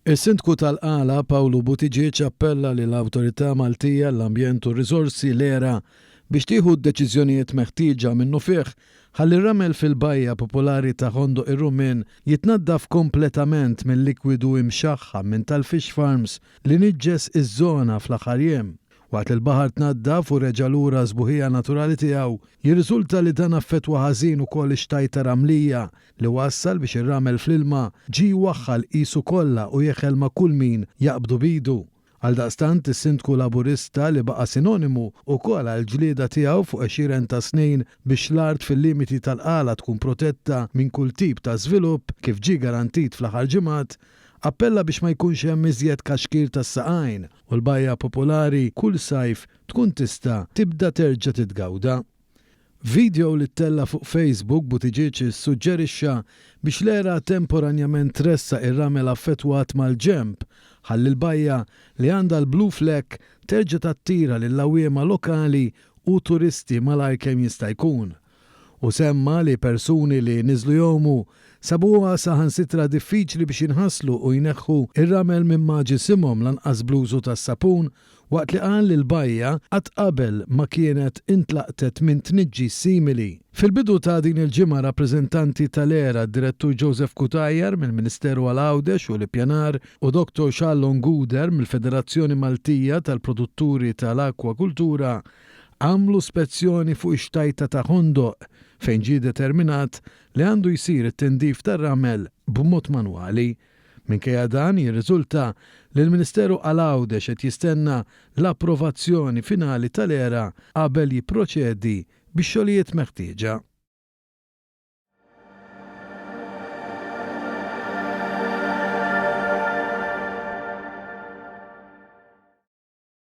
Is-Sindku tal-Qala, Pawlu Buttigieg appella lill-Awtorità Maltija għall-Ambjent u r-Riżorsi, l-ERA, biex tieħu d-deċiżjonijiet meħtieġa minnufih ħalli r-ramel fil-bajja popolari ta' Ħondoq ir-Rummien jitnaddaf kompletament mil-likwidu imxaħħam minn tal-fish farms li niġġes iż-żona fl-aħħar jiem. Waqt li l-baħar tnaddaf u reġa' lura għas-sbuħija naturali tiegħu, jirriżulta li dan affettwa ħażin ukoll ix-xtajta ramlija li wassal biex ir-ramel fl-ilma ġie jwaħħal qisu kollha u jeħel ma' kull min jaqbdu b'idu. Għaldaqstant, is-Sindku Laburista li baqa' sinonimu wkoll għall-ġlieda tiegħu fuq għexieren ta' snin biex l-art fil-limiti tal-Qala tkun protetta minn kull tip ta' żvilupp, kif ġie garantit fl-aħħar ġimgħat, appella biex ma jkunx hemm iżjed kaxkir tas-saqajn u l-bajja popolari kull sajf tkun tista' tibda terġa' titgawda. F'vidjow li ttella' fuq Facebook, Buttigieg issuġġerixxa biex l-ERA temporanjament tressaq ir-ramel affettwat mal-ġenb, ħalli l-bajja, li għandha l-blue flag, terġa' tattira lill-għawwiema lokali u turisti malajr kemm jista' jkun. Hu semma li persuni li niżlu jgħumu sabuha saħansitra diffiċli biex jinħaslu u jneħħu r-ramel minn ma' ġisimhom lanqas bl-użu tas-sapun waqt li qal li l-bajja qatt qabel ma kienet intlaqtet minn tniġġis simili. Fil-bidu ta' din il-ġimgħa rappreżentanti tal-ERA, d-Direttur Joseph Cutajar mill-Ministeru għal Għawdex u l-Ippjanar u Dr Charlon Guder mill-Federazzjoni Maltija tal-Produtturi tal-Akkwakultura għamlu spezzjoni fuq ix-xtajta ta' Ħondoq fejn ġie determinat li għandu jsir it-tindif tar-ramel b'mod manwali Minkejja dan, jirriżulta li l-Ministeru għal Għawdex qed jistenna l-approvazzjoni finali tal-ERA qabel jipproċedi bix-xogħlijiet meħtieġa.